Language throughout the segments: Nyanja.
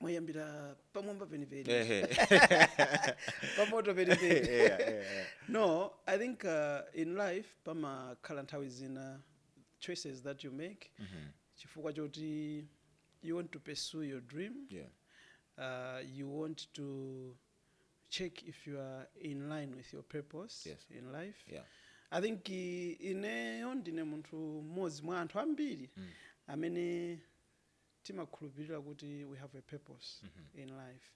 mwayambira pamwamba penipeni Ehe. pamoto penipeni Yeah, yeah, yeah. no i think uh, in life pamakhala nthawi zina choices that you make chifukwa choti you want to pursue your dream Yeah. uh, you want to check if you are in line with your purpose Yes. in life Yeah. i think i- ineyo ndine munthu mmodzi mwa anthu ambiri amene timakhulupilira kuti we have a purpose in life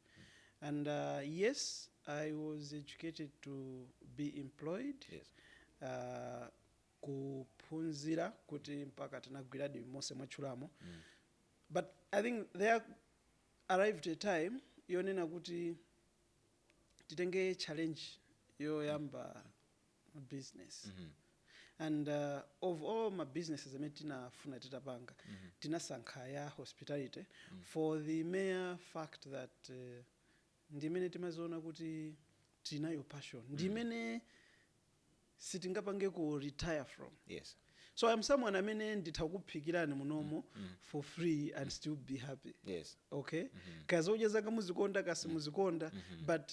and yes i was educated to be employed Yes. uh, kuphunzira kuti mpaka tinagwiradi monse mwatchulamo but i think there arrived a time yonena kuti titenge challenge yoyamba business and uh, of all ma businesses amene tinafuna titapanga tinasankha ya hospitality for the mere fact that uh, ndi imene timaziona kuti tinayo passion ndi imene sitingapange ku retire from so i'm someone amene nditha kukuphikirani munomo for free and still be happy okay kazodya zanga muzikonda kasi muzikonda but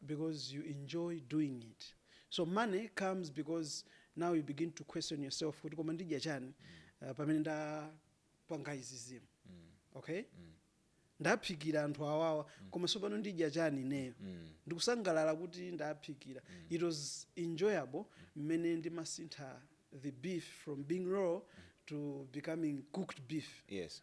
because you enjoy doing it so money comes because now you begin to question yourself kuti koma ndidya chani uh, pamene ndapanga izi zinthu okay ndaphikira anthu awawa koma sopano ndidya chani ineyo ndikusangalala kuti ndaphikira it was enjoyable mmene ndimasintha the beef from being raw to becoming cooked beef yes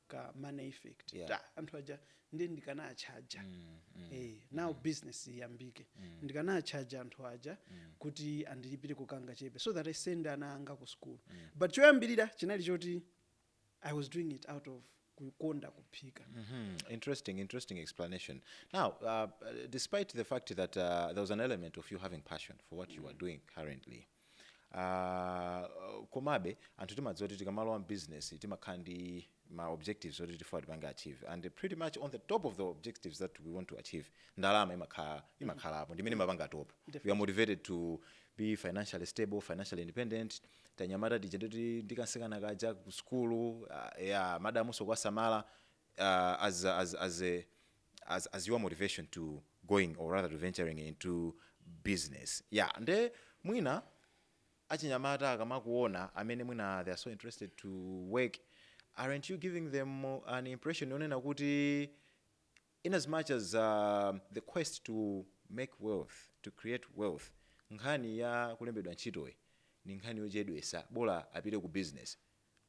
ka money effect Yeah. anthu aja nde ndikanawatchaja eh, now business iyambike ndikanawatchaja anthu aja kuti andilipire kangachepe so that i send ana anga ku school but choyambirira chinali choti i was doing it out of kukonda kuphika Mhm. Interesting, interesting explanation. Now, uh, despite the fact that uh, there was an element of you having passion for what you are doing currently, Ah, komabe anthu timadziwa kuti tikamalowa mbusiness timakhala ndi ma objectives oti tifuna tipange achieve and pretty much on the top of the objectives that we want to achieve ndalama imakhalapo ndimene imapanga top we are motivated to be financially stable financially independent tanyamata tija ndi kamtsikana kaja ku skulu ah, yeah, madamunso kuwasamala ah, as, a- as, as a as as your motivation to going or rather to venturing into business yeah nde mwina achinyamata akamakuona amene mwina they are so interested to work aren't you giving them an impression yonena kuti in as much as uh, the quest to make wealth to create wealth nkhani ya kulembedwa ntchitoyi ni nkhani yochedwesa bola apite ku business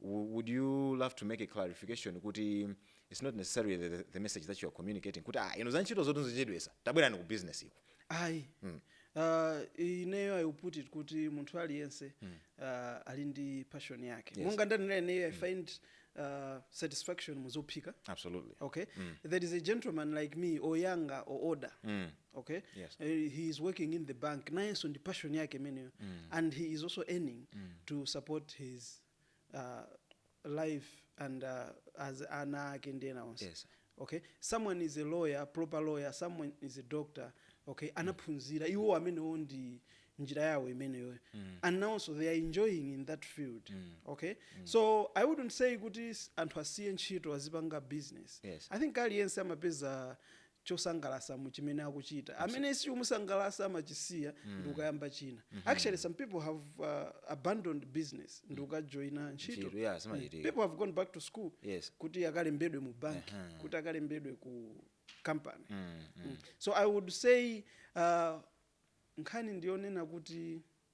would you love to make a clarification kuti its not necessarily the, the message that you are communicating kuti ah, izi za ntchito izotu nzochedwesa tabwerani ku business iko ayi mm. uh, ineyo i put it kuti munthu aliyense mm. uh, ali ndi passion yake yes. monga ndanena ineyo i mm. find uh, satisfaction muzophika absolutely okay mm. there is a gentleman like me or younger or older mm. okay Yes. uh, he is working in the bank nayenso ndi passion yake imeneyo and he is also earning to support his uh, life and uh, as ana ake ndi ena onse Yes. okay someone is a lawyer a proper lawyer someone is a doctor okay anaphunzira iwo amenewo ndi njira yawo imeneyo and nawonso they are enjoying in that field okay so i wouldn't say kuti s- anthu asiye ntchito azipanga business Yes. i think aliyense amapeza chosangalasa mu chimene akuchita amene sichikumusangalasa amachisiya mm. ndikukayamba china mm -hmm. actually some people have uh, abandoned business ndikukajoina ntchito yeah, people have gone back to school yes. kuti akalembedwe mu bank uh -huh. kuti akalembedwe ku company mm, mm. Mm. so i would say uh, nkhani ndiyonena kuti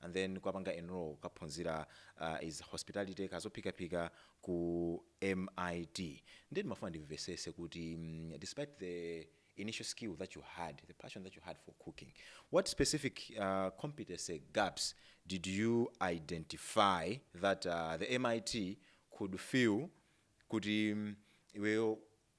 and then kukapanga enrol kukaphunzira uh, is hospitality kazophikaphika ku MIT ndiye ndimafuna ndimvesese kuti mm, despite the initial skill that you had the passion that you had for cooking what specific uh, competency gaps did you identify that uh, the MIT could fill kuti mm, iweyo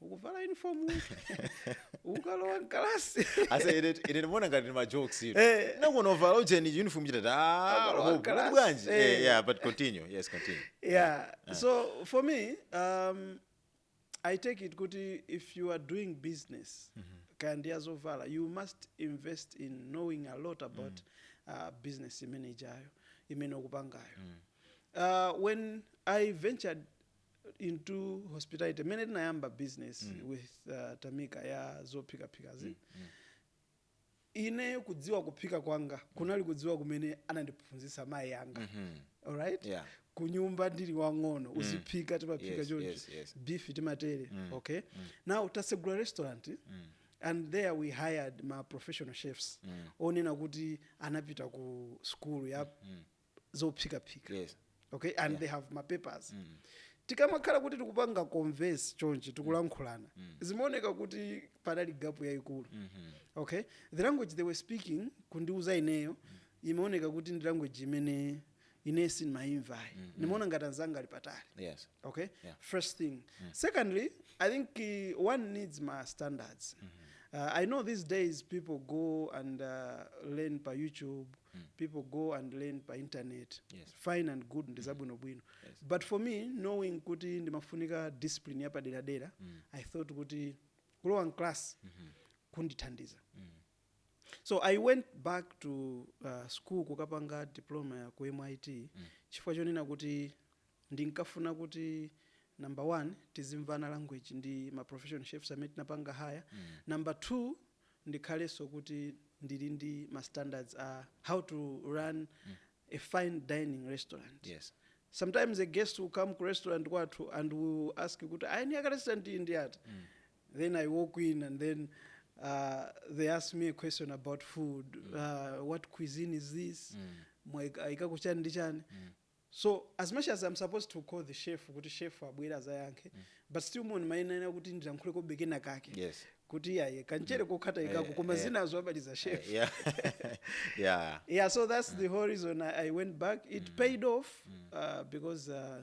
ukuvala uniform ukalowa mkalasi ase ine ine ndimaona ngati ndi majokes ino Eh. nakuona utavala ujeni uniform chitati ah Akalowa hope mkalasi. kuti bwanji Eh. eh yeah but continue yes continue yeah so for me um, i take it kuti if you are doing business kaya ndi azovala you must invest in knowing a lot about uh, business imene ijayo imene ukupangayo uh, when i ventured into hospitality mmene tinayamba business mm. with uh, tamika ya zophikaphikazi mm. mm. ineyo kudziwa kuphika kwanga kunali kudziwa kumene anandiphunzitsa mayi anga mm -hmm. alright yeah. kunyumba ndili wang'ono mm. uziphika timaphika yes, choncho yes, yes. beef timatere mm. okay mm. now tasegula restaurant mm and there we hired ma professional chefs mm. onena kuti anapita ku skulu ya mm. zophikaphika Yes. okay and Yeah. they have mapapers Mm. tikamakhala kuti tikupanga converse chonchi tikulankhulana zimaoneka kuti panali gap yayikulu Mhm. okay the language they were speaking kundiuza ineyo imaoneka kuti ndi language imene ine sindimayimvayi ndimaona ngati anzanga ali patali Yes. okay Yeah. first thing secondly i think uh, one needs ma standards uh, i know these days people go and uh, learn pa youtube mm. people go and learn pa internet yes. fine and good ndi zabwinobwino mm. yes. but for me knowing kuti ndimafunika discipline yapaderadera mm. i thought kuti kulowa mclass mm -hmm. kundithandiza mm. so i went back to uh, school kukapanga diploma ya ku mit mm. chifukwa chonena kuti ndinkafuna kuti number one tizimvana language ndi ma professional chefs amene tinapanga haya mm. number two ndikhalenso kuti ndili ndi ma standards a how to run a fine dining restaurant. Yes. Sometimes a guest will come ku restaurant kwathu and will ask kuti a eni ake a restaurant iyi ndi ati? Then I walk in and then uh, they ask me a question about food. Uh, what cuisine is this? Mwaika- Ayikako chani ndi chani? so as much as am supposed to call the chef kuti chef abwere azayankhe but still mon mayenera kuti ndilankhule kobe kena kake Yes. kuti iyaye kanchere kokhataikako koma zinazo abaliza chef yeah yeah yeah so that's the whole reason i, I went back it paid off uh, because uh,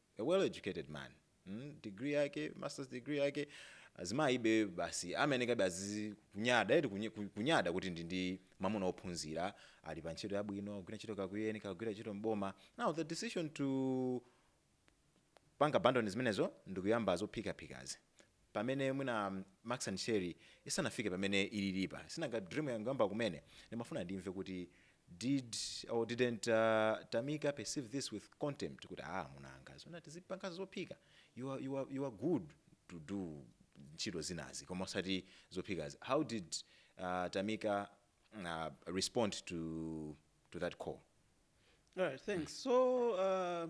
a well educated man mm, degree yake masters degree yake azimayibe basi amayenekabe azikunyada eti kunye- ku- kunyada kuti ndi ndi mamuna ophunzira ali pa ntchito yabwino kugwira ntchito kakuyeni kakugwira ntchito mboma now the decision to panga abandon zimenezo ndikuyamba zophikaphikazi pamene mwina max and sherry isanafike pamene ililipa si nanga dream yangoyamba kumene ndimafuna ndimve kuti did or didn't tamika perceive this with contempt kuti aah amuna anga zoona tizipangaso zophika you are you are you are good to do ntchito zinazi koma osati zophikazi how did tamika respond to to that call? Alright thanks so uh,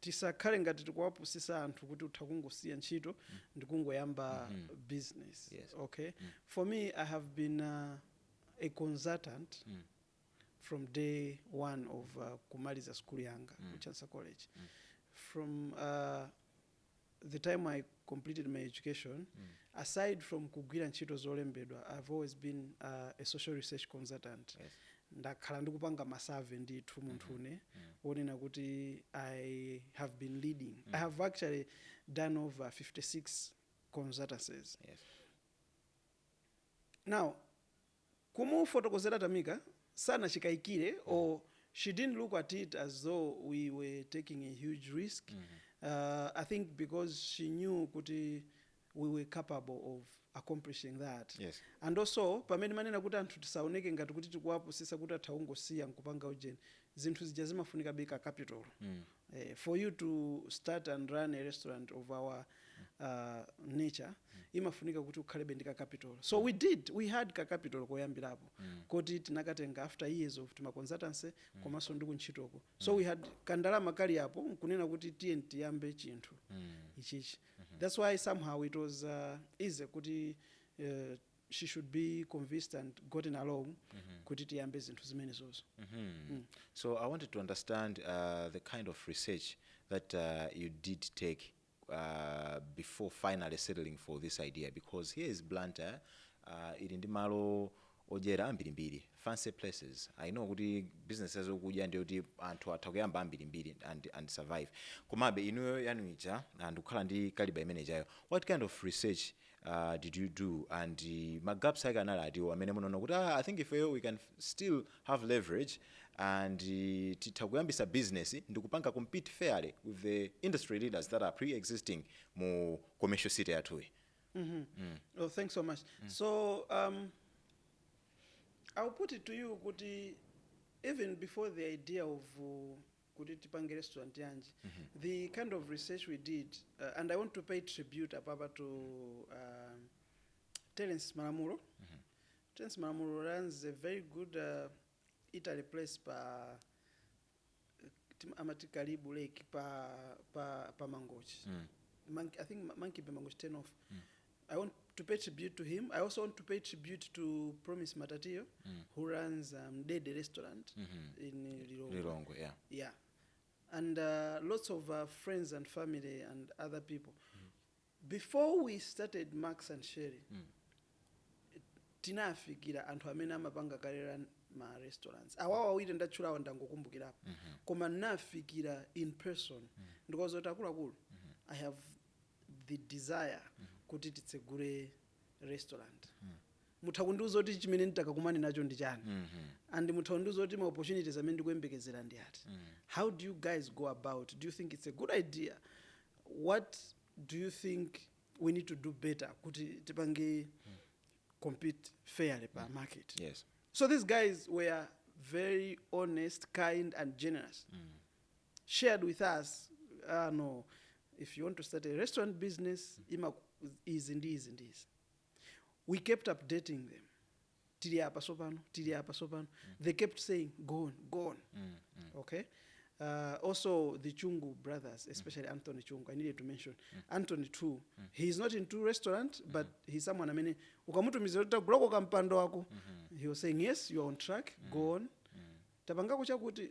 tisakhale ngati tikuwapusisa anthu kuti utha kungosiya ntchito ndikungoyamba business Yes. okay for me i have been uh, a consultant from day one of uh, kumaliza skulu yanga ku chancellor college from uh, the time I completed my education, mm. aside from kugwira ntchito zolembedwa, I've always been uh, a social research consultant. Yes. ndakhala ndikupanga ma survey ndithu munthu mm-hmm. ne mm. wonena kuti i have been leading mm. i have actually done over 56 consultancies yes. now kumufotokozera Tamika sanachikayikire or she didn't look at it as though we were taking a huge risk uh, I think because she knew kuti we were capable of accomplishing that Yes. and also pamene mwanena kuti anthu tisaoneke ngati kuti tikuwapusisa kuti atha kungosiya nkupanga ujeni zinthu zija zimafunika be ka capital eeh for you to start and run a restaurant of our uh, nature imafunika kuti ukhalebe ndi ka capital so we did we had ka capital koyambirapo koti tinakatenga after years of tima consultancy komanso ndi kuntchitoko so we had kandalama kali apo nkunena kuti tiye tiyambe chinthu ichichi that's why somehow it was uh, easy kuti uh, she should be convinced and gotten along kuti tiyambe zinthu zimenezozo So I wanted to understand uh, the kind of research that uh, you did take uh, before finally settling for this idea because here is Blantyre uh, ili ndi malo odyera ambirimbiri fancy places i know kuti business yazokudya ndiyo kuti anthu atha kuyamba ambirimbiri and, and survive komabe inuyo yanu ija ndi kukhala ndi kaliba imene ijayo what kind of research uh, did you do and uh, magaps ake anali atiwo amene munaona kuti ah, i think ifeyo we can f- still have leverage and uh, titha kuyambisa business ndi kupanga compete fairly with the industry leaders that are pre-existing mu commercial city yathuyi Oh, thanks so much. So um, I'll put it to you, Kuti, even before the idea of uh, kuti tipange restaurant yanji the kind of research we did uh, and i want to pay tribute apapa to uh, terence malamulo terence malamulo runs a very good uh, italy place pa tim- amati karibu lake pa, pa, pa mangochi mm. Monkey, i think Mon- monkey bay mangochi turn off mm. I want to pay tribute to him. I also want to pay tribute to Promise Matatiyo, mm. who runs um, Dede Restaurant mm -hmm. in Lilongwe. Lilongwe, yeah. Yeah. And uh, lots of uh, friends and family and other people. Mm. Before we started Max and Sherry, mm. tinafikira anthu amene amapanga kalera ma restaurants awawa awiri ndatchulawa ndangokumbukirapo mm -hmm. koma nafikira in person mm -hmm. ndikoza kuti akuluakulu mm -hmm. i have the desire kuti titsegule restaurant mutha kundiuza kuti chimene nditakakumane nacho ndi chani and mutha kundiuza kuti ma opportunities amene ndikuyembekezera ndi ati how do you guys go about do you think it's a good idea what do you think we need to do better kuti tipange compete fairly pa market yes so these guys were very honest kind and generous shared with us ah no if you want to start a restaurant business ima izi ndi izi ndi izi we kept updating them tili apa sopano tili apa sopano they kept saying go on go on okay uh, also the chungu brothers especially anthony chungu i needed to mention anthony too he is not into restaurant but he's someone amene ukamutumiza kuti tagulako kampando wako he was saying yes you are on track go on tapangako chakuti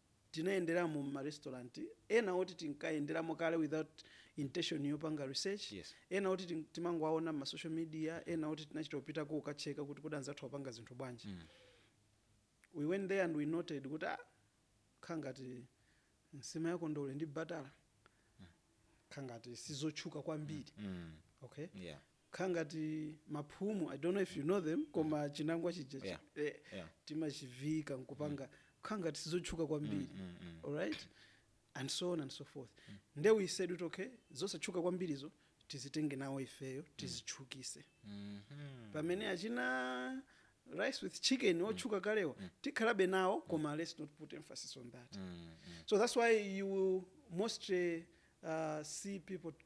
tinayenderamo mma restaurant ena oti tinkayenderamo kale without intention yopanga research, Yes. ena oti tin- timangowaona mma social media, ena oti tinachita kupitako kukatcheka kuti kodi anzathu amapanga zinthu bwanji. We went there and we noted kuti ah, kha ngati nsima ya kondole ndi batala kha ngati sizotchuka kwambiri. Mm. Okay? Yeah. kukhala ngati maphumu i don't know if you know them koma chinangwa chija chi- Yeah. eh, Yeah. timachiviika nkupanga kukhala ngati sizotchuka kwambiri alright and so on and so forth nde we said kuti okay zosatchuka kwambirizo tizitenge nawo ifeyo tizitchukitse pamene achina rice with chicken otchuka kalewa tikhalabe nawo koma let's not put emphasis on that so that's why you will mostly uh, see people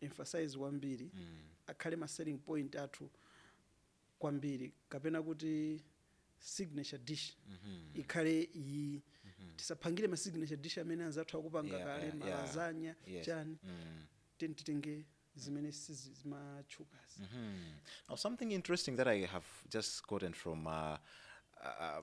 emphasize kwambiri akhale ma selling point athu kwambiri kapena kuti signature dish ikhale iyi tisaphangire ma signature dish amene anzathu akupanga Yeah, kale yeah, ma yeah. lasagna Yes. chani Mm. tiyeni titenge zimene sizimatchukazi Now, something interesting that I have just gotten from uh, uh,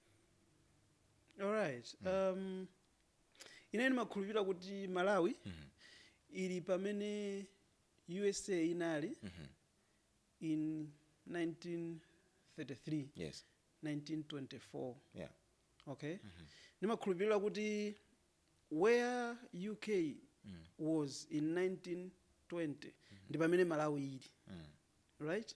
alright um, ine ndimakhulupirira kuti malawi ili pamene usa inali in 1933 yes 1924 yeah okay ndimakhulupirira kuti where uk was in 1920 ndi pamene malawi ili right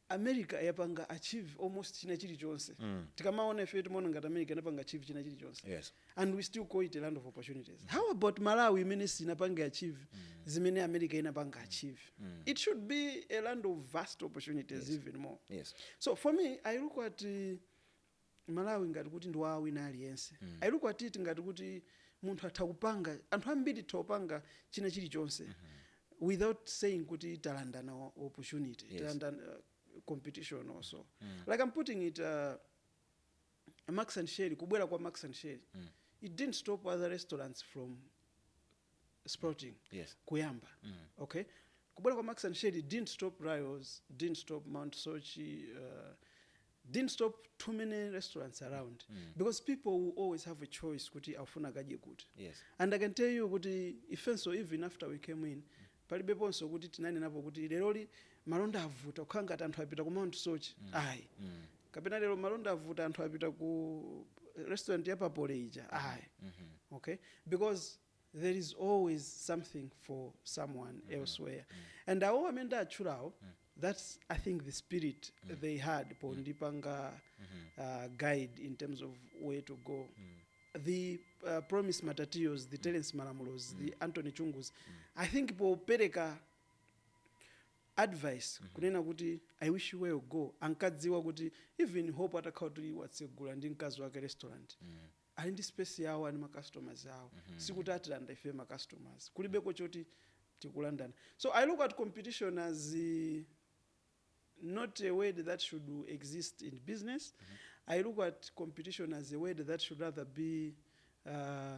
America yapanga achieve almost china chilichonse tikamaona ifeyo timaona ngati America inapanga achieve china chilichonse Yes. and we still call it a land of opportunities how about Malawi imene sinapanga achieve zimene America inapanga achieve it should be a land of vast opportunities even more Yes. so for me I look at uh, Malawi ngati kuti ndi wa wina aliyense. I look at it ngati kuti munthu atha kupanga, anthu ambiri titha kupanga china chilichonse without saying kuti talandana o- opportunity, Yes. talandana uh, competition or so. Like I'm putting it uh, Max and Sherry, kubwera kwa Max and Sherry, it didn't stop other restaurants from sprouting Yes. kuyamba okay kubwera kwa max and sherry didn't stop rios didn't stop mount soche uh, didn't stop too many restaurants around because people will always have a choice kuti afuna akadye kuti Yes. and i can tell you kuti ifenso even after we came in palibeponso kuti tinanenapo kuti leroli malonda avuta ukhala ngati anthu apita ku mount soche ayi kapena lero malonda avuta anthu apita ku restaurant ya papole ija mm -hmm. ayi mm -hmm. okay because there is always something for someone mm -hmm. elsewhere mm -hmm. and awo amene ndatchulawo mm -hmm. that's i think the spirit mm -hmm. they had mm-hmm. pondipanga mm -hmm. uh, guide in terms of where to go mm -hmm the uh, promise matatios the mm. terence malamulos mm. the anthony chungus mm. i think popereka advice kunena kuti i wish you well go ankadziwa kuti even hope atakhala kuti watsegula ndi mkazi wake restaurant ali ndi space yawo ali ndi ma customers awo sikuti atilanda ife ma customers kulibeko choti tikulandana so i look at competition as eh, not a word that should exist in business. I look at competition as a word that should rather be uh,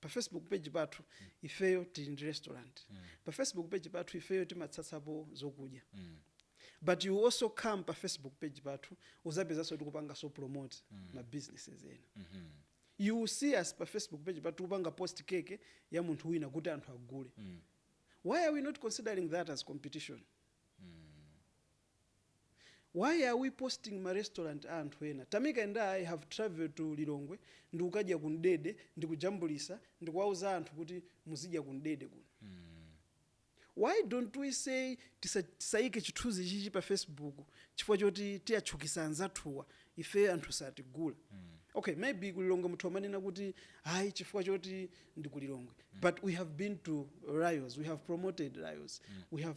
Pa Facebook page pathu ifeyo tili ndi restaurant. Pa Facebook page pathu ifeyo timatsatsapo zokudya. But you also come pa Facebook page pathu uzapezaso tikupangaso promote ma businesses ena. You will see us pa Facebook page pathu tikupanga post cake ya munthu wina kuti anthu agule. Why are we not considering that as competition? Why are we posting ma restaurant a anthu ena? Tamika and I have travelled to Lilongwe ndikukadya ku Mdede ndikujambulisa ndikuwauza anthu kuti muzidya ku Mdede kuno. Why don't we say tisaike chithunzichichi pa Facebook chifukwa choti tiatchukisa anzathuwa ifeyo anthu satigula. Ok maybe ku Lilongwe mutha kumanena kuti ayi chifukwa choti ndi ku Lilongwe but we have been to Rayos, we have promoted Rayos, we have.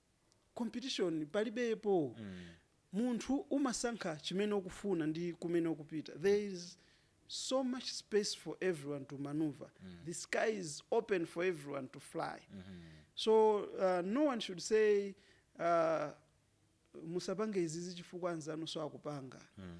competition palibepo mm. munthu umasankha chimene ukufuna ndi kumene ukupita there is so much space for everyone to maneuver mm. the sky is open for everyone to fly mm -hmm. so uh, no one should say uh, musapange izizi chifukwa anzanuso akupanga mm.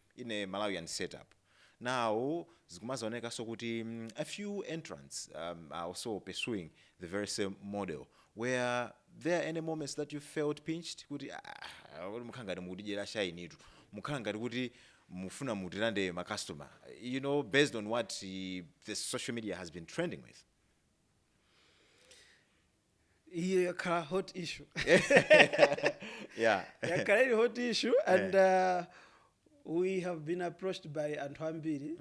in a Malawian setup now zikumazaonekanso kuti a few entrants um, are also pursuing the very same model were there any moments that you felt pinched kuti ah, ah, kuti mukhala ngati mukutidyera shainitu mukhala ngati kuti mufuna mutilande ma customer you know based on what eh, the social media has been trending with iyo yakhala hot issue yeah yakhala ili hot issue and uh, we have been approached by anthu ambiri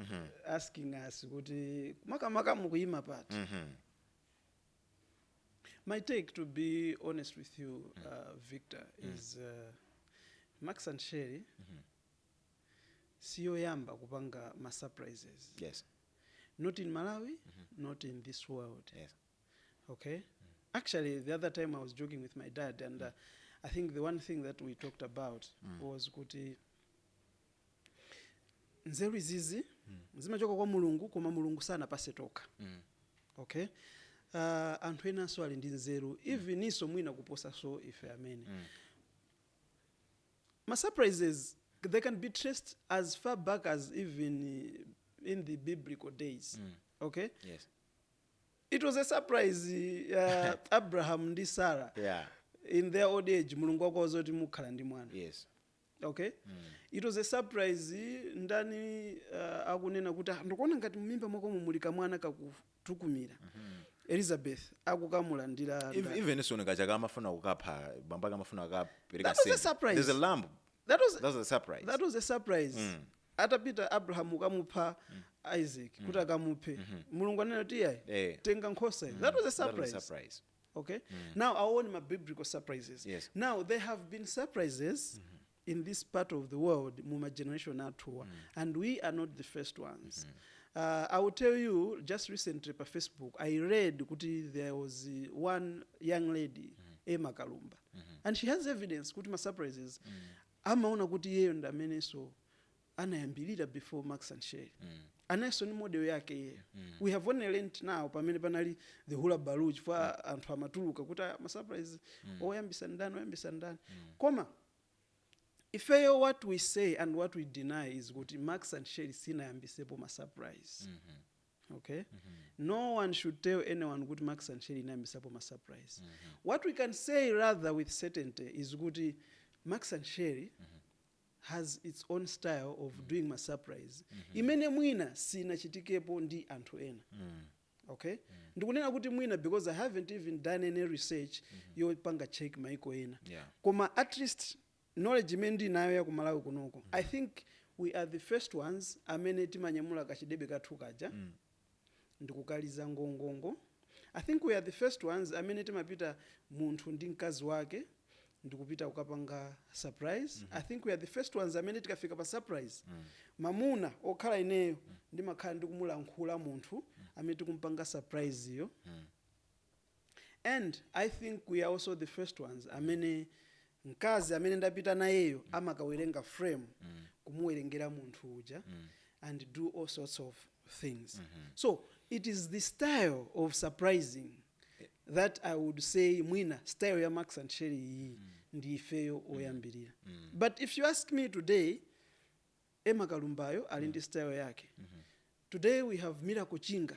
asking us kuti makamaka mukuyima pati Mhm. my take to be honest with you uh, victor is uh, max and sherry siyoyamba kupanga ma surprises yes not in malawi not in this world yes Okay. Actually, the other time I was joking with my dad, and uh, I think the one thing that we talked about was kuti nzeru izizi zimachoka kwa mulungu koma mulungu sanapase tokha okay uh, anthu enanso ali ndi nzeru even iwonso mwina kuposanso ife amene ma surprises they can be traced as far back as even uh, in the biblical days okay yes it was a surprise uh, abraham ndi sarah yeah in their old age mulungu akuwauza kuti mukhala ndi mwana yes okay it was a surprise ndani uh, akunena kuti "Ah, ndikuona ngati mumimba mwakomo muli kamwana kakutukumira elizabeth akukamulandira Ev- even Isaac nga chaka amafuna kukapha bambo ake amafuna kukapereka That was a surprise. there's a lamb that was, That was a surprise. that was a surprise Mm. atapita abrahamu kukamupha isaac kuti akamuphe mulungu anena kuti iyayi Eh. tenga nkhosa iyi. that was a That was a surprise surprise. okay now awone ma biblical surprises Yes. now there have been surprises in this part of the world mu ma generation athuwa and we are not the first ones uh, i will tell you just recently pa facebook i read kuti there was uh, one young lady emma kalumba and she has evidence kuti ma surprises amaona kuti iyeyo ndi amenenso anayambirira before Max and Sherry nayenso ndi model yake iyeyo we have only learnt now pamene panali the hullabaloo chifukwa anthu amatuluka kuti "Ah, ma surprise oyambisa ndani oyambisa ndani koma ifeyo what we say and what we deny is kuti Max and Sherry sinayambisepo ma surprise Ok no one should tell anyone kuti Max and Sherry inayambisapo ma surprise. What we can say rather with certainty is kuti Max and Sherry has its own style of doing ma surprise imene mwina sinachitikepo ndi anthu ena. Okay? Ndikunena kuti mwina because I haven't even done any research yopanga check maiko ena. Yeah. Koma at least knowledge imene ndinayo ya ku Malawi kunoko I think we are the first ones amene timanyamula kachidebe kathu kaja ndikukaliza ngongongo, I think we are the first ones amene timapita munthu ndi mkazi wake ndikupita kukapanga surprise, I think we are the first ones amene tikafika pa surprise mamuna okhala ineyo ndimakhala ndikumulankhula munthu amene tikumpanga surprise yo. And I think we are also the first ones amene mkazi amene ndapita nayeyo amakawerenga frame kumuwerengera munthu uja and do all sorts of things so it is the style of surprising that i would say mwina style ya Max and Sherry iyi ndi ifeyo oyambirira but if you ask me today Emma Kalumbayo ali ndi style yake today we have Miracle Chinga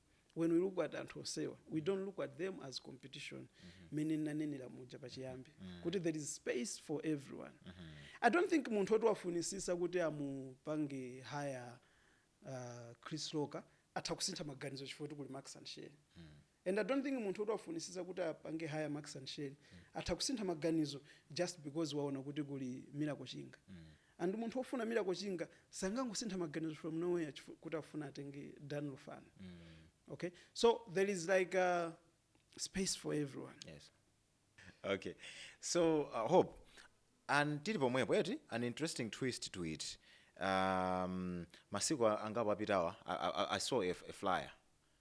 when we look at anthu onsewa we don't look at them as competition mmene ndinanenera muja pachiyambi kuti there is space for everyone i don't think munthu oti wafunisisa kuti amupange hire uh, Chris Loka atha kusintha maganizo chifukwa choti kuli Max and Sherry and i don't think munthu oti wafunisisa kuti apange hire Max and Sherry atha kusintha maganizo just because waona kuti kuli Miracle Chinga And munthu ofuna miracle chinga sangangosintha maganizo from nowhere kuti akufuna atenge Dan Lufani okay so there is like a space for everyone. yes okay so uh, hope and tili pomwepo eti an interesting twist to it um, masiku a- angapo apitawa I, I, i saw a, a flyer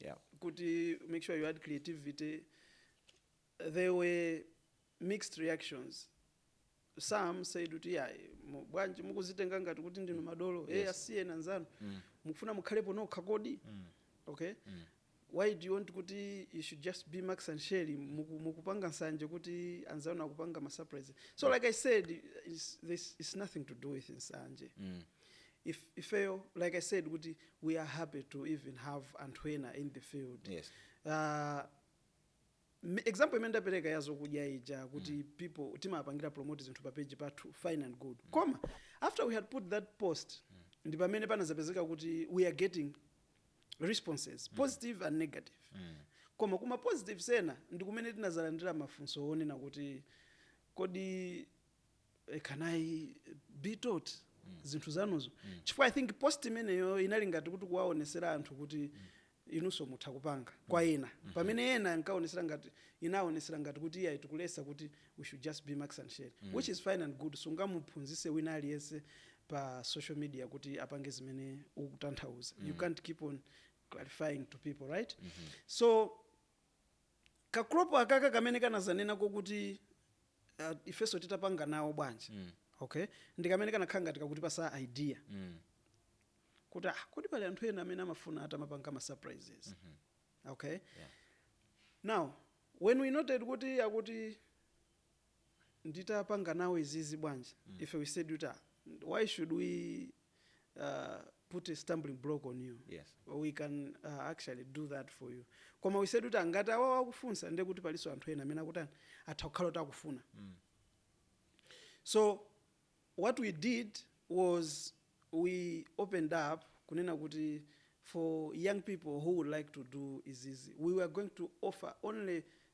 yeah kuti make sure you add creativity there were mixed reactions some said kuti yayi mu- bwanji mukuzitenga ngati kuti ndinu madolo yes. Yes. e asiyeni anzanu mm. mukufuna mukhalepo nokha kodi mm. okay mm. why do you want kuti you should just be Max and Sherry muku- mukupanga nsanje kuti anzanu akupanga masurprise so like i said it's, this, it's nothing to do with nsanje mm. if ifeyo like i said kuti we are happy to even have anthu ena in the field Yes. uh, m- example imene ndapereka ya zokudya ija kuti people timapangira promote zinthu pa page pathu fine and good koma after we had put that post ndi pamene panazapezeka kuti we are getting responses positive and negative koma kuma positives ena ndi kumene tinazalandira mafunso onena kuti kodi eh, can i be taught zinthu zanuzo chifukwa i think post imeneyo inali ngati kuti kuwaonesera anthu kuti inunso mutha kupanga kwa ena pamene ena ankaonesera ngati inaonesera ngati kuti iyayi tikuletsa kuti we should just be Max and Sherry which is fine and good sungamuphunzise wina aliyense pa social media kuti apange zimene ukutanthauza you can't keep on clarifying to people right so kagroup akaka kamene kanazanena kokuti uh, ifeso titapanga nawo bwanji mm. okay ndikamene kanakhala ngati kakutipasa idea mm. kuti ah, kodi pali anthu ena amene amafuna atamapanga ma surprises mm -hmm. okay yeah. now when we noted kuti akuti nditapanga nawo izizi bwanji mm. ife we said kuti ah, why should we uh, put a stumbling block on you yes. we can uh, actually do that for you koma we said kuti ah ngati awawa akufunsa ndiye kuti palinso anthu ena amene akutani atha kukhala kuti akufuna mm. so what we did was we opened up kunena kuti for young people who would like to do izizi we were going to offer only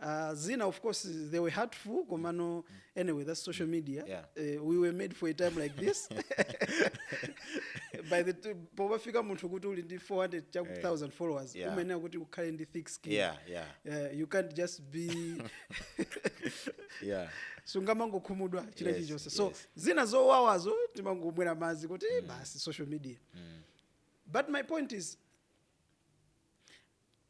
Ah, zina of course they were hurtful komano anyway that's social media Yeah. Eh, we were made for a time like this by the t- popafika munthu kuti uli ndi 400 chakuti 1000 followers Yeah. umayenera kuti ukhale ndi thick skin Yeah, yeah. Eh, you can't just be yeah sungamangokhumudwa china Yes, chilichonse so yes. zina zowawazo timangomwera madzi kuti basi social media but my point is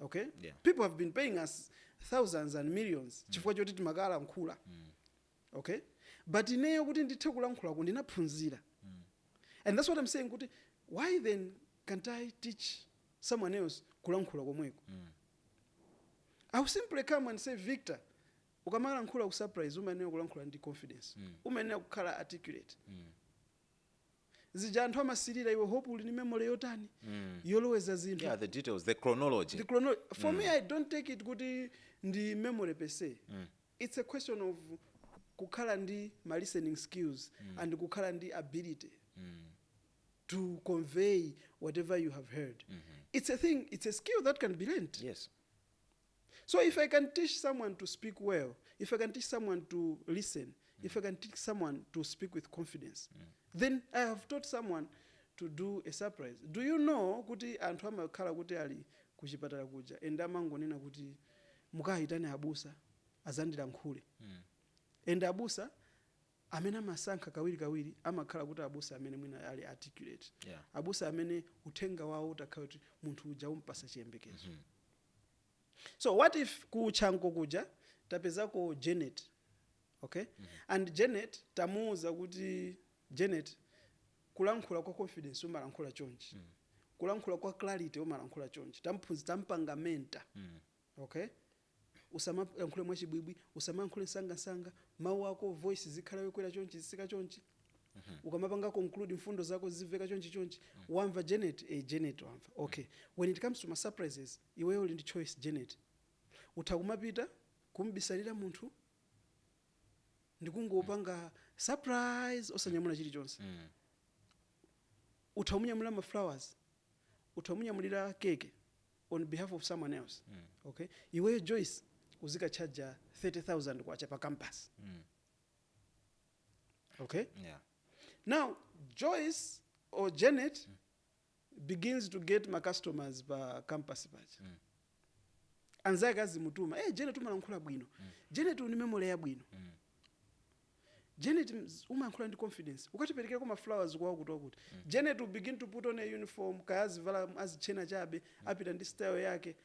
okay Yeah. people have been paying us thousands and millions chifukwa choti timakalankhula okay but ineyo kuti ndithe kulankhulako ndinaphunzira and that's what i'm saying kuti why then can't i teach someone else kulankhula komweko i will simply come and say victor ukamalankhula kusurprise umayenera kulankhula ndi confidence umayenera kukhala articulate zija anthu amasilira iwe hope uli ndi memory yotani yoloweza zinthu yeah the details the chronology the chrono for me i don't take it kuti ndi memory per se it's a question of kukhala ndi ma listening skills and kukhala ndi ability to convey whatever you have heard it's a thing it's a skill that can be learned yes So if I can teach someone to speak well, if I can teach someone to listen, if I can teach someone to speak with confidence, then I have taught someone to do a surprise. Do you know kuti anthu amakhala kuti ali kuchipatala kuja and amangonena kuti mukayitane abusa azandilankhule and abusa amene amasankha kawiri kawiri amakhala kuti abusa amene mwina ali articulate Yeah. abusa amene uthenga wawo utakhala kuti munthu uja umpasa chiyembekezo so what if ku chanco kuja tapezako janet okay and janet tamuuza kuti janet kulankhula kwa confidence umalankhula chonchi kulankhula kwa clarity umalankhula chonchi tamphunzi tampanga mentor okay usamalankhule mwachibwibwi usamalankhule msangamsanga mawu ako voice zikhala yokwera chonchi zisika chonchi ukamapanga conclude mfundo zako ziziveka chonchi chonchi wamva janet eh, janet wamva okay when it comes to ma surprises iweyo uli ndi choice janet utha kumapita kumbisalira munthu ndikungopanga surprise osanyamula chilichonse Mm. utha kumunyamulira ma flowers utha kumunyamulira keke on behalf of someone else mm. okay iweyo joyce uzikatchaja 30000 kwacha pa campus Mm. okay yeah now joyce or janet begins to get ma customers pa campus paja Mm. anzake azimutuma hey, janet umalankhula bwino janet uli ndi memory yabwino Mm. janet mz- umayankhula ndi confidence ukatiperekerako ma flowers kwa wakutiwakuti janet will begin to put on a uniform kaya azivala azitchena chabe apita ndi style yake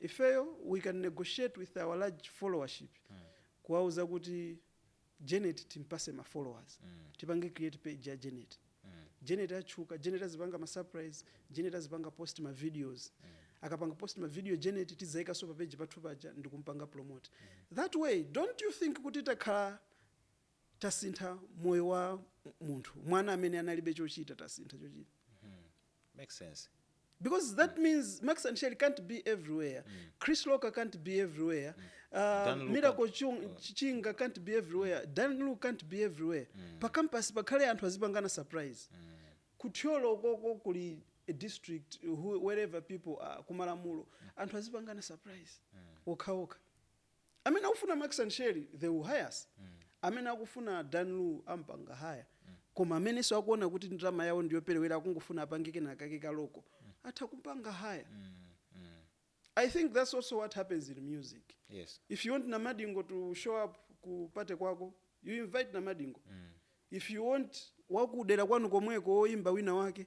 Ifeyo we can negotiate with our large followership kuwauza kuti Janet timpase ma followers, tipange create page ya Janet, Janet atchuka, Janet azipanga ma surprise, Janet azipanga post ma videos, akapanga post ma video Janet tidzaikanso pa page pathu paja ndikumpanga promote that way, don't you think kuti takhala. tasintha moyo wa munthu mwana amene analibe chochita tasintha chochita Makes sense. because that means max and sherry can't be everywhere chris locker can't be everywhere uh, Dan Lu miracle can't- Chung- Ch- chinga can't be everywhere dan lu can't be everywhere pa campus pakhale anthu azipangana surprise ku Thyolo koko kuli a district who- wherever people are ku Malamulo anthu azipangana surprise okhaokha amene akufuna max and sherry they will hire us amene akufuna dan lu ampanga hire koma amenenso akuona kuti ndalama yawo ndiyoperewera akungofuna apange kenakake ka local atha kumpanga hire i think that's also what happens in music yes if you want namadingo to show up ku party kwako you invite namadingo if you want wakudera kwanu komweko woimba wina wake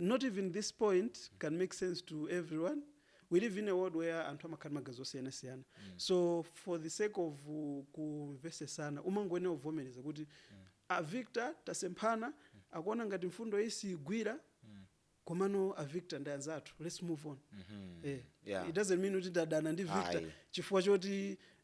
Not even this point can make sense to everyone, we live in a world where anthu amakhala ndi magazi osiyanasiyana so for the sake of kumvesesana umangoyenera kuvomereza kuti a victor tasemphana akuona ngati mfundo iyi siyigwira komano a victor ndi anzathu lets move on eh, Yeah. it doesn't mean kuti tadana ndi victor Ayi. chifukwa choti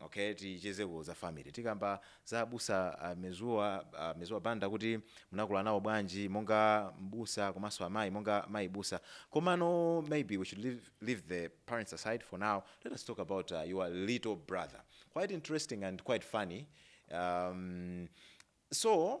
Ok tichezeko za family tikamba za abusa a mezuwa a mezuwa banda kuti munakula nawo bwanji monga m'busa komanso amayi monga mayi busa komano maybe we should leave, leave the parents aside for now let us talk about uh, your little brother quite interesting and quite funny um, so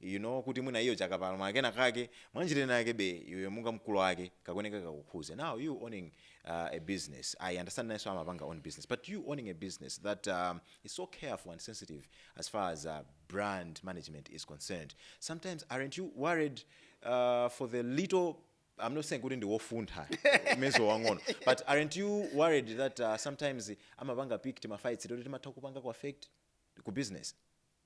you know kuti mwina iwo akapalamula kenakake mwanjira ina yake be iwe monga mkulu wake kakuyenera kakukhuze now you owning uh, a business i understand nayenso amapanga own business but you owning a business that um, is so careful and sensitive as far as uh, brand management is concerned sometimes aren't you worried uh, for the little I'm not saying kuti ndiwofuntha mezuwa wamng'ono but aren't you worried that uh, sometimes amapanga pick timafights toti timatha kupanga ku affect ku business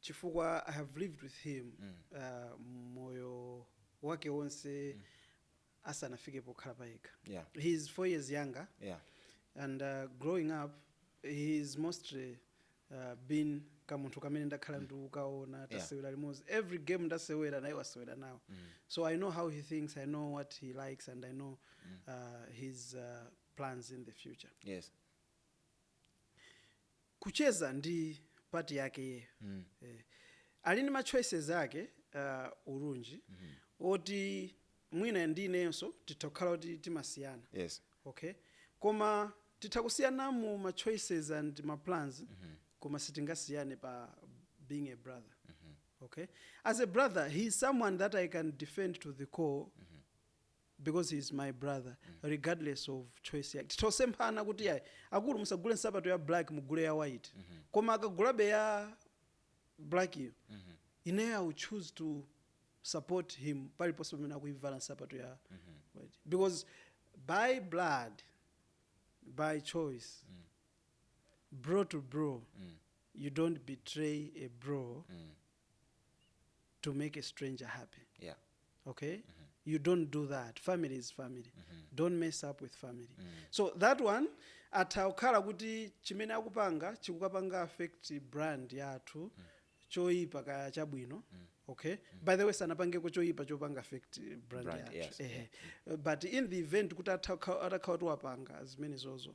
chifukwa I have lived with him uh, moyo wake wonse asanafike pokhala payekha Yeah. he is four years younger yeah and uh, growing up he is mostly uh, been kamunthu kamene ndakhala ndikukaona tasewera limodzi every game ndasewera naye wasewera nawo so i know how he thinks i know what he likes and i know uh, his uh, plans in the future yes kucheza ndi part yake iyeyo eh, ali ndi ma choices ake uh, urunji oti mwina ndi inenso titha kukhala kuti timasiyana yes okay koma titha kusiyana mu ma choices and ma plans koma sitingasiyane pa being a brother okay as a brother he is someone that i can defend to the core because he is my brother regardless of choice yake titha kusemphana kuti yayi akulu musagule nsapato ya black mugule ya white koma akagulabe ya black iyo ineyo i will choose to support him paliponse pamene akuivala nsapato ya white because by blood by choice bro to bro you don't betray a bro to make a stranger happy yeah okay you don't do that family is family don't mess up with family so that one atha kukhala kuti chimene akupanga chikukapanga affect brand yathu choyipa kaya chabwino okay by the way sanapangeko choyipa chopanga affect brand, Brand, yathu yes, but in the event kuti atha kukha- atakhala kuti wapanga zimenezozo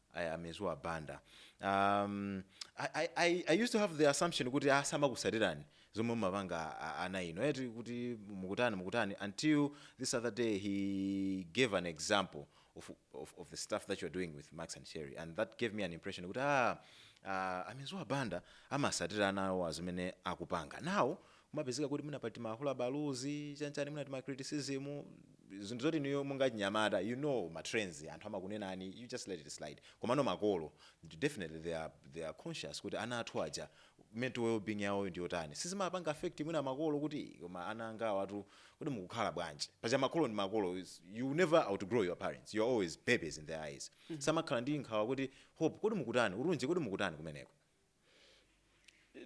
Aya a Mezuwa Banda. Um, I, I, I- I used to have the assumption kuti samakutsatirani zomwe mumapanga ana inu eti kuti mukutani mukutani until this other day he gave an example of, of, of the stuff that you're doing with Max and Sherry and that gave me an impression kuti ah, uh, a Mezuwa Banda amatsatira ana awo pa zimene akupanga now kumapezeka kuti mwina pali ti makhuluku baluzi chanchani mwina tima criticism zinthu zoti inuyo monga achinyamata you know ma trends anthu amakunenani you just let it slide komano makolo definitely they are, they are conscious kuti ana athu aja mental wellbeing yawoyo ndi yotani sizimapanga affect mwina makolo kuti "Ii, koma ana angawatu kodi mukukhala bwanji paja makolo ndi makolo is- you will never outgrow your parents you are always babies in their eyes samakhala ndi nkhawa kuti hope kodi mukutani urunji kodi mukutani kumeneko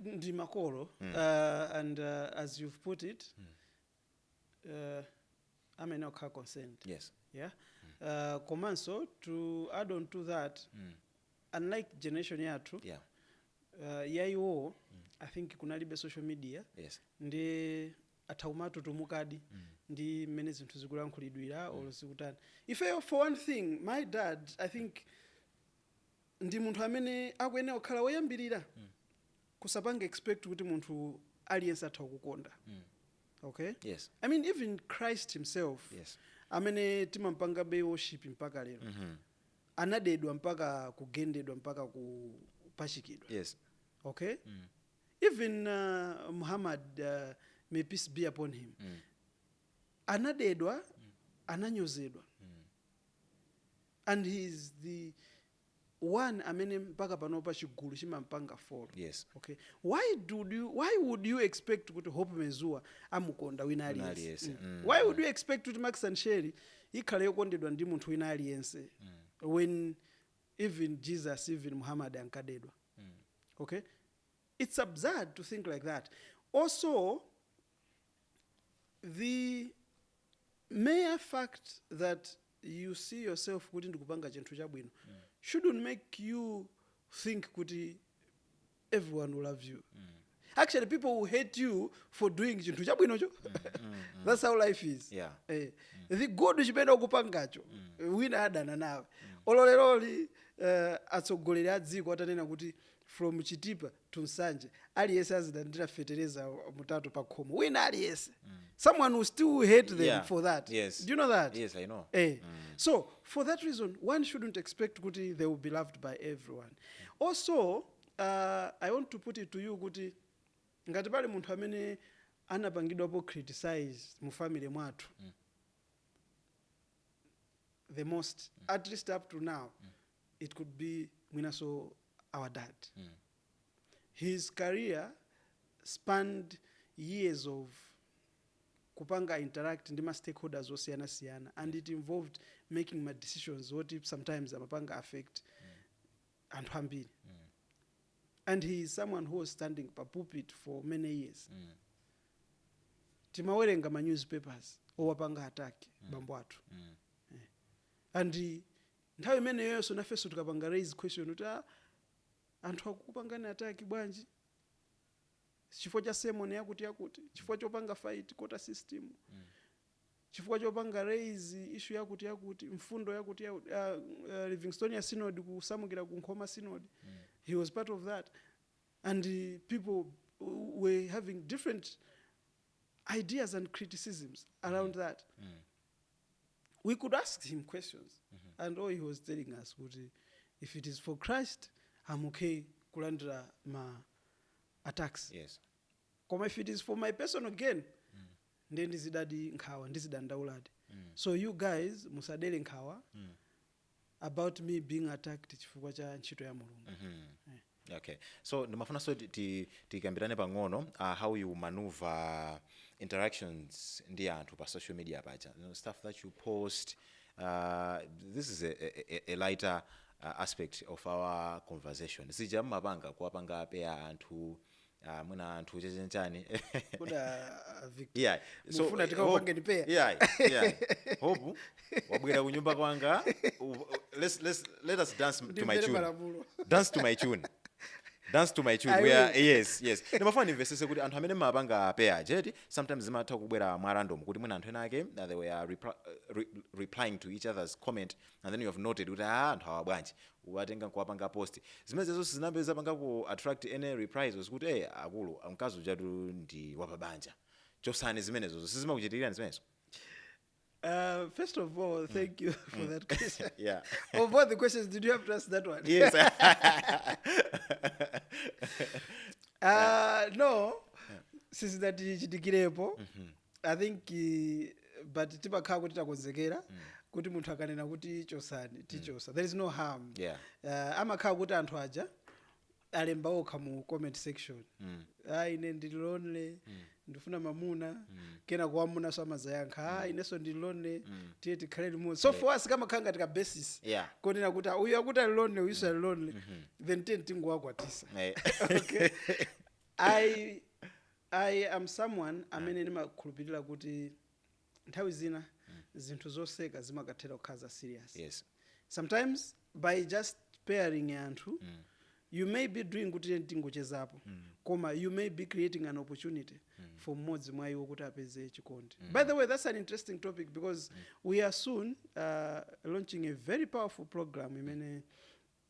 ndi makolo uh, and uh, as you've put it uh, amakhala concerned yes yeah uh, komanso to add on to that unlike generation yathu yeah uh, yaiwo i think kunalibe social media yes ndi atha kumatutumukadi ndi mmene zinthu zikulankhulidwira or zikutani ife for one thing my dad i think ndi munthu amene akuyenera kukhala woyambirira kusapange expect kuti munthu aliyense atha kukukonda okay Yes. i mean even christ himself Yes. amene timampanga be worship mpaka lero anadedwa mpaka kugendedwa mpaka kupachikidwa yes okay even uh, muhammad uh, may peace be upon him anadedwa ananyozedwa and he is the one amene mpaka panopa chigulu chimampanga follow yes okay why do you why would you expect kuti Hope Mezuwa amukonda wina aliyense mm. mm. why would you expect kuti max and sherry ikhale yokondedwa ndi munthu wina aliyense mm. when even jesus even muhammad ankadedwa mm. okay it's absurd to think like that also the Mere fact that you see yourself kuti ndikupanga chinthu chabwino shouldn't make you think kuti everyone will love you. Actually people will hate you for doing chinthu chabwinocho. That's how life is. Yeah. Eh, the good chimene ukupangacho wina adana nawe. Olo leroli eh, atsogoleri a dziko atanena kuti from Chitipa to Nsanje, aliyense azilandira fetereza wa mutatu pa khomo. Wina aliyense. Someone will still hate them Yeah. for that. Yes. Do you know that? Yes, I know. Eh. So for that reason, one shouldn't expect kuti they will be loved by everyone. Also, uh, I want to put it to you kuti ngati pali munthu amene anapangidwapo criticize mu family mwathu the most at least up to now it could be mwinaso our dad his career spanned years of kupanga interact ndi ma stakeholders osiyana siyana and it involved making ma decisions oti sometimes amapanga affect anthu ambiri and he is someone who was standing pa pulpit for many years timawerenga ma newspapers owapanga attack bambo athu and Nthawi imeneyoyonso nafenso tikapanga raise question kuti aah anthu akukupangani attack bwanji? Chifukwa cha sermon yakuti yakuti? Chifukwa chopanga fight quota system? Chifukwa chopanga raise issue yakuti yakuti? Mfundo yakuti yakuti? Aah Livingstonia Synod kusamukira ku Nkhoma Synod, he was part of that and people were having different ideas and criticisms around that. we could ask him questions and all he was telling us kuti if it is for christ am okay kulandira ma attacks yes koma if it is for my personal gain then ndizidadi nkhawa ndizidandauladi so you guys musadere nkhawa about me being attacked chifukwa cha ntchito ya mulungu Eh. okay so ndimafunanso ti- ti- tikambirane pang'ono uh, how you maneuver interactions ndi anthu pa social media Pacha you know, stuff that you post uh, this is a, a, a- a lighter uh, aspect of our conversation zija mmapanga kuwapanga pair anthu ah, mwina anthu chechenchani Kodi a- a Victor, yeah. mufuna tikakupangeni pair? yeah, yeah. Hope wabwera kunyumba kwanga u- u- let's, let's, let us dance to my Ndimvere tune malamulo. dance to my tune dance to my tune I we are, will. yes yes ndimafuna ndimvesese kuti anthu amene mmapanga pair eti sometimes zimatha kubwera mwa random kuti mwina anthu ena ake uh, they were repl- uh, re- replying to each other's comment and then you have noted kuti ah anthu awa bwanji kuwatenga nkuwapanga post zimenezezo sizinayambe zapangako attract any reprisals kuti eh akulu mkazi ujatu ndi wapabanja chosani zimenezozo sizimakuchitikirani zimenezo Uh, first of all, thank you for that question. yeah of all the questions, did you have to ask that one? yes Uh, no, sizinatichitikirepo i think eh, but timakhala kuti takonzekera kuti munthu akanena kuti chosani tichosa there is no harm Yeah. uh, amakhala kuti anthu aja alemba okha mu comment section mm. ah, ine ndili lonely mm. ndifuna mamuna mm. kena kwa amunanso amazayankha mm. ah, inenso ndili lonely mm. tiye tikhale limodzi so for us kamakhala ngati ka basis Yeah. konena kuti ah, uyu akuti ali lonely uyuso ali lonely mm -hmm. then tiye tingowakwatisa Eh. okay i I am someone amene ndimakhulupilira kuti nthawi zina zinthu zoseka zimakathera kukhala za serious. Yes. Sometimes by just pairing anthu you may be doing kuti tiyeni tingochezapo koma you may be creating an opportunity for mmodzi mwa iwo kuti apeze chikondi. By the way, that's an interesting topic because we are soon uh, launching a very powerful program imene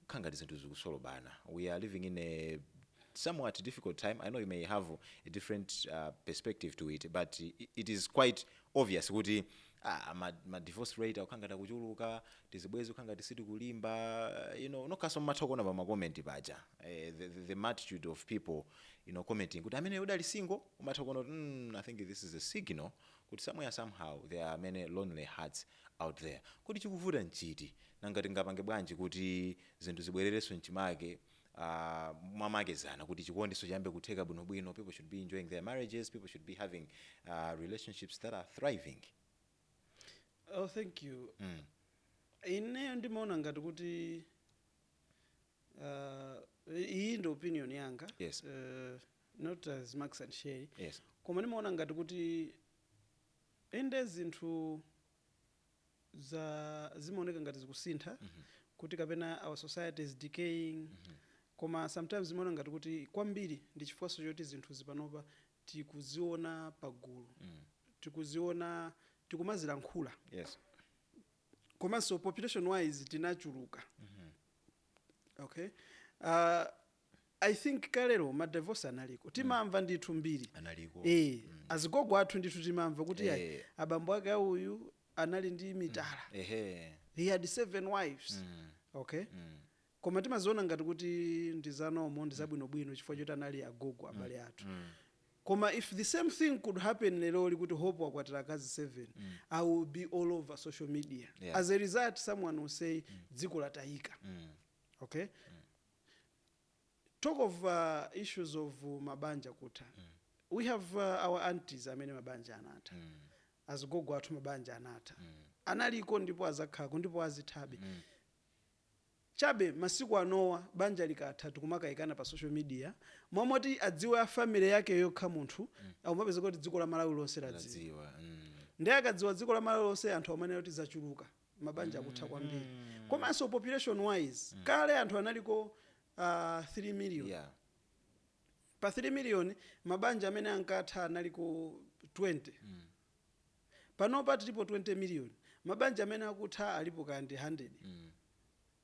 kukhala ngati zinthu zikusolobana we are living in a somewhat difficult time, I know you may have a different perspective to it but it is quite obvious kuti aah ma divorce rate akukhala ngati akuchuluka, tizibwezi kukhala ngati sitikulimba you know nokhaso mumatha kuona pa ma comment paja the multitude of people you know commenting kuti amene muli single? Umatha kuona kuti mm I think this is a signal kuti somewhere somehow there are many lonely hearts. out there. Kodi chikuvuta nchiti? Nanga tingapange bwanji kuti zinthu zibwererenso mchimake uh, mwamakezana kuti chikondiso chiyambe kutheka bwinobwino. People should be enjoying their marriages. People should be having uh, relationships that are thriving. Oh, thank you. Mm. Ineyo ndimaona ngati kuti uh, iyi ndi opinion yanga yes. uh, not as Max and Sherry yes. koma ndimaona ngati kuti Inde zinthu za zimaoneka ngati zikusintha kuti kapena our society is decaying koma sometimes timaona ngati kuti kwambiri ndi chifukwanso choti zinthuzi panopa tikuziona pagulu, tikuziona, tikumazilankhula Yes. komanso population wise tinachuluka. Okay? Ah, I think kalero ma divorce analiko timamva ndithu mbiri Analiko. eh azigogo athu ndithu timamva kuti Eh. ayi abambo ake auyu anali ndi mitala ehe he had seven wives okay koma timaziona ngati kuti ndizanomo ndizabwinobwino chifukwa choti anali agogo abale athu koma if the same thing could happen leroli kuti hope wakwatira akazi 7 it will be all over social media Yeah. as a result someone will say dziko latayika okay talk of uh, issues of uh, mabanja kutha we have uh, our aunties amene mabanja anatha azigogo athu mabanja anatha analiko ndipo azakhako ndipo azithabe chabe masiku anowa banja likatha tikumakayikana pa social media mwamoti adziwe a family yake yokha munthu akumapeza kuti dziko la malawi lonse ladziwa ladziwa mm. ndiye akadziwa dziko la malawi lonse anthu amanena kuti zachuluka mabanja akutha kwambiri mm. komanso population wise mm. kale anthu analiko uh, 3 million yeah. pa 3 million mabanja amene ankatha analiko 20 mm. panopa tilipo 20 million mabanja amene akutha alipo kandi 100 mm.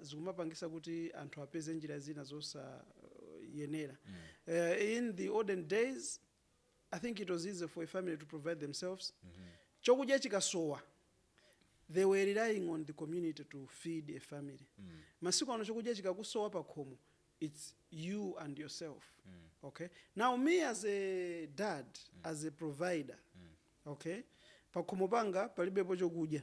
zikumapangisa kuti anthu apeze njira zina zosayenera. In the olden days, I think it was easy for a family to provide themselves. Chokudya chikasowa, they were relying on the community to feed a family. Masiku ano chokudya chikakusowa pakhomo, it's you and yourself. Okay? Now me as a dad, as a provider, okay? Pakhomo panga palibepo chokudya.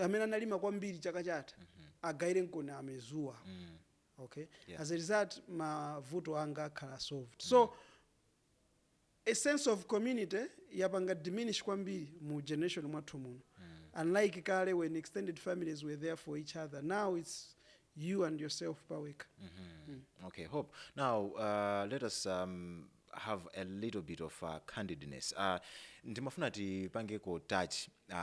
amene analima kwambiri chaka chatha mm -hmm. agairenkoni amezuwa mm. okay yeah. as a result mavuto anga akhala solved mm. so a sense of community yapanga diminish kwambiri mu generation mwathu muno mm. unlike kale when extended families were there for each other now it's you and yourself paweka mm -hmm. mm. okay hope now uh, let us um, have a little bit of uh, candidness uh, ndimafuna tipangeko touch uh,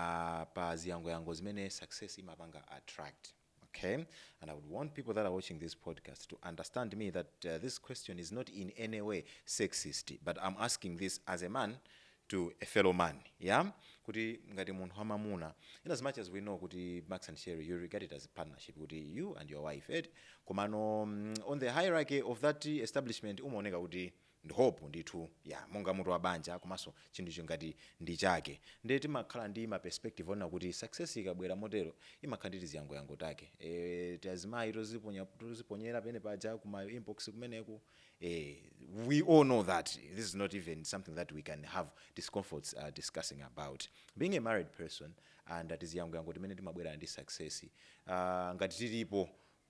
pa ziyangoyango zimene success imapanga attract okay and i would want people that are watching this podcast to understand me that uh, this question is not in any way sexist but i'm asking this as a man to a fellow man yeah kuti ngati munthu wamamuna in as much as we know kuti max and sherry you regard it as a partnership kuti you and your wife ed komano mm, on the hierarchy of that establishment umaoneka kuti ndi hope ndithu yeah monga mutu wa banja komanso chinthuchi ngati ndi chake ndiye timakhala ndi ma perspective onena kuti success ikabwera motero imakhala ndi tiziyangoyango take eh tiazimayi toziponyera pene paja ku ma inbox kumeneku eh we all know that this is not even something that we can have discomforts uh, discussing about being a married person and tiziyangoyango timene timabwera ndi success uh, ngati tilipo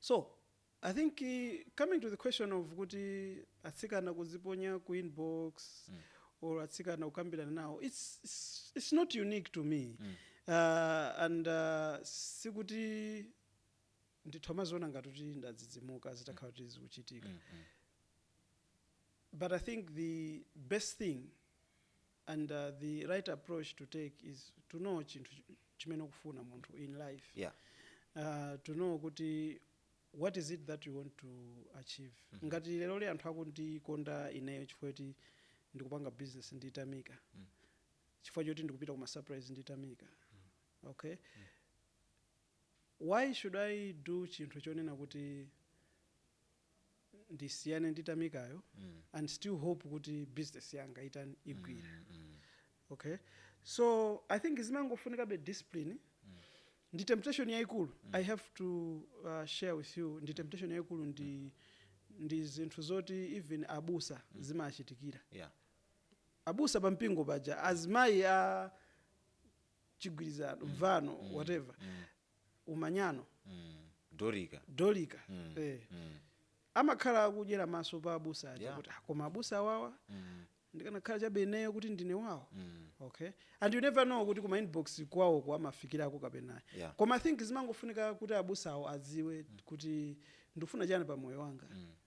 So, I think coming to the question of kuti atsikana kuziponya ku inbox mm. or atsikana kukambirana nawo it's, it's, it's not unique to me mm. uh, and uh, sikuti ndithu umaziona ngati kuti ndadzidzimuka zitakhala kuti zikuchitika mm, mm. but i think the best thing and the right approach to take is to know chinthu chimene ukufuna munthu in life yeah. uh, to know kuti what is it that you want to achieve mm -hmm. ngati leroli anthu akundikonda ineyo chifukwa choti ndikupanga business ndi Tamika mm. chifukwa choti ndikupita ku masurprise ndi Tamika mm. okay mm. Why should I do chinthu chonena kuti ndisiyane ndi Tamikayo and still hope kuti business yanga itani igwire. Okay. So I think zimangofunikabe discipline ndi temptation yaikulu I have to uh, share with you ndi temptation yaikulu ndi zinthu zoti even abusa zimachitikira Yeah. abusa pa mpingo paja azimayi a chigwirizano mvano whatever umanyano Mm. Dorika Mm. eh. Mm. amakhala akudyera maso pa abusa aja Yeah. kuti "Ah, koma abusa awawa Mm. ndikanakhala chabe ineyo kuti ndine wawo Mm. okay and you never know kuti kuma inbox kwawo amafikirako kapena Yeah. koma i think zimangofunika kuti abusawo adziwe kuti ndikufuna chani pa moyo wanga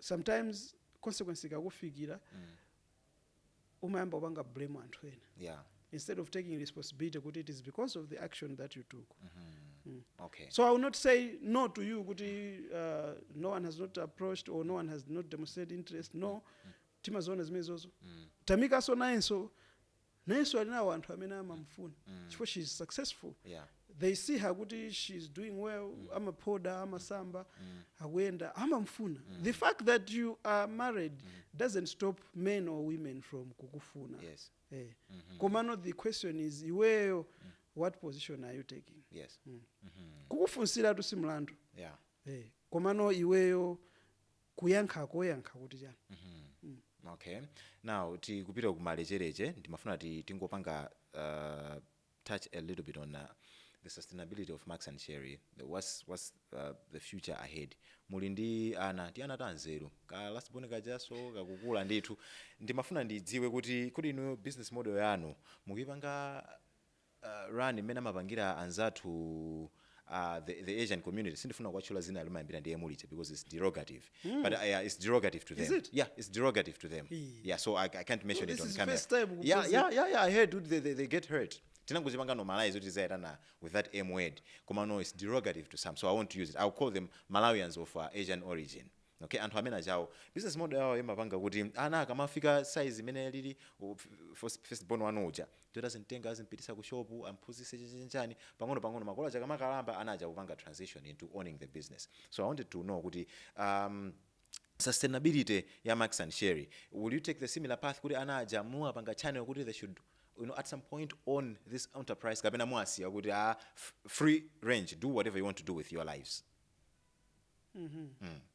sometimes consequence ikakufikira umayamba kupanga blame anthu ena yeah instead of taking responsibility kuti it is because of the action that you took okay so i will not say no to you kuti uh, no one has not approached or no one has not demonstrated interest no timaziona zimenezozo tamikaso nayenso nayenso ali nawo anthu amene amamufuna chifukwa she is successful Yeah. they see her kuti she is doing well amaphoda amasamba akuyenda amamufuna the fact that you are married doesn't stop men or women from kukufuna Yes. eh. komano the question is iweyo what position are you taking yes kukufunsira tu si mlandu yeah eh. komano iweyo kuyankha koyankha kuti chani mm. okay now tikupita kumalecheleche ndimafuna ti tingopanga uh, touch a little bit on uh, the sustainability of max and sherry the, what's, what's uh, the future ahead muli ndi ana ti ana tanzeru ka last born kajaso kakukula ndithu ndimafuna ndidziwe kuti kodi inuyo business model yanu mukuyipanga run mmene amapangira anzathu a the, the asian community sindifuna kuwatchula zina limayambira ndi emu lija because it's derogative but uh, yeah, it's derogative to Is them it? yeah it's derogative to them Ee. yeah so i, I can't mention this it on is camera first time yeah, kuphunzira. yeah, yeah, yeah, I heard dude, they, they, they get hurt tinangozipanga normalize kuti zayatana with that m word koma no it's derogative to some so i want to use it i'll call them malawians of uh, asian origin okay anthu amene achawo business model yawo imapanga kuti ana akamafika size imene lili u- f- first- firstborn wanu uja Jota zimtenga azimpitisa ku shop amphunzise chanichani pang'ono pang'ono makolo aja akamakalamba ana aja kupanga transition into owning the business so i wanted to know kuti um sustainability ya max and sherry will you take the similar path kuti ana aja muwapanga channel kuti they should you know at some point own this enterprise kapena muwasiya kuti ah free range do whatever you want to do with your lives mm.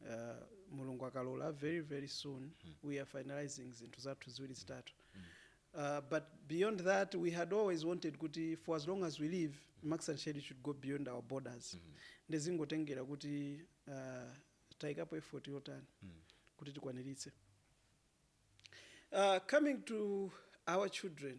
uh, mulungu akalola very very soon we are finalizing zinthu zathu ziwiri zitatu uh, but beyond that we had always wanted kuti for as long as we live max and shade should go beyond our borders ndezingotengera kuti uh, tayikapo effort yotani kuti tikwaniritse uh, coming to our children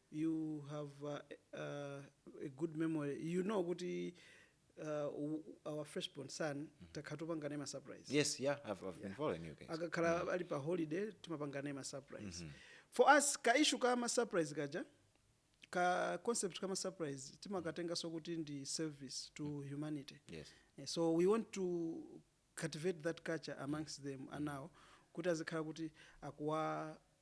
you have a a good memory you know kuti uh, our fresh born son mm -hmm. takhala topanga naye masurprise yes yeah I've, I've yeah. been following you guys akakhala mm -hmm. ali pa holiday timapanga naye masurprise mm -hmm. for us ka issue ka masurprise kaja ka concept kama surprise timakatenga so kuti ndi service to mm. humanity yes. yeah, so we want to cultivate that culture amongst mm. them anawo kuti azikhala kuti akuwa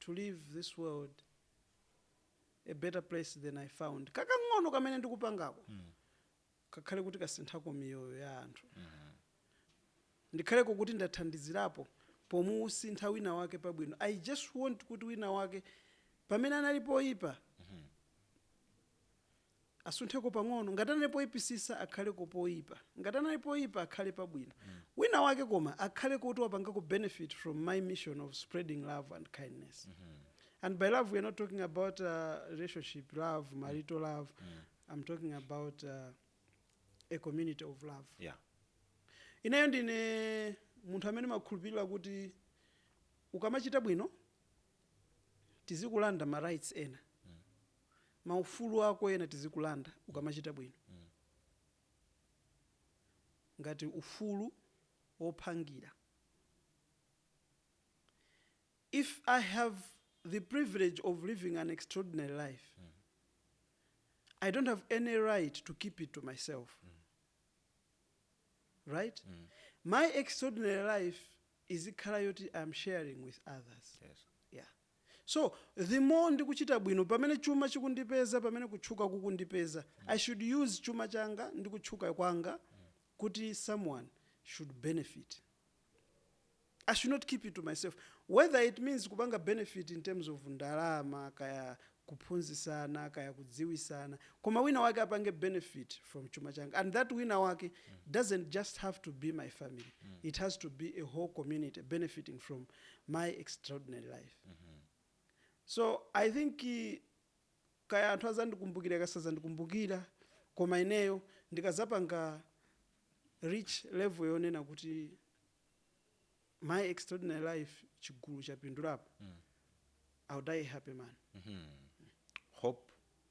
to leave this world a better place than I found. Kakang'ono kamene ndikupangako kakhale kuti kasinthako miyoyo ya anthu. Ndikhaleko kuti ndathandizirapo pomusintha wina wake pabwino. I just want kuti wina wake pamene anali poipa asuntheko pang'ono, ngati anali poipisisa akhaleko poipa, ngati anali poipa akhale pabwino, wina wake koma akhaleko woti wapangako benefit from my mission of spreading love and kindness. And by love we are not talking about uh, relationship love, marital love. I'm talking about uh, a community of love. yeah Ineyo ndine munthu amene ndimakhulupirira kuti ukamachita bwino tizikulanda ma rights ena. maufulu ako ena tizikulanda ukamachita bwino ngati ufulu wophangira if i have the privilege of living an extraordinary life i don't have any right to keep it to myself right my extraordinary life izikhala yoti i'm sharing with others yes yeah So, the more ndikuchita bwino, pamene chuma chikundipeza, pamene kutchuka kukundipeza, I should use chuma changa ndi kutchuka kwanga kuti someone should benefit. I should not keep it to myself. Whether it means kupanga benefit in terms of ndalama, kaya kuphunzisana, kaya kudziwisana, koma wina wake apange benefit from chuma changa. And that wina wake doesn't just have to be my family. It has to be a whole community benefiting from my extraordinary life so i think kaya anthu azandikumbukira kaya sazandikumbukira koma ineyo ndikazapanga reach level yonena kuti my extraordinary life chigulu chapindulapo i'll die a happy man hope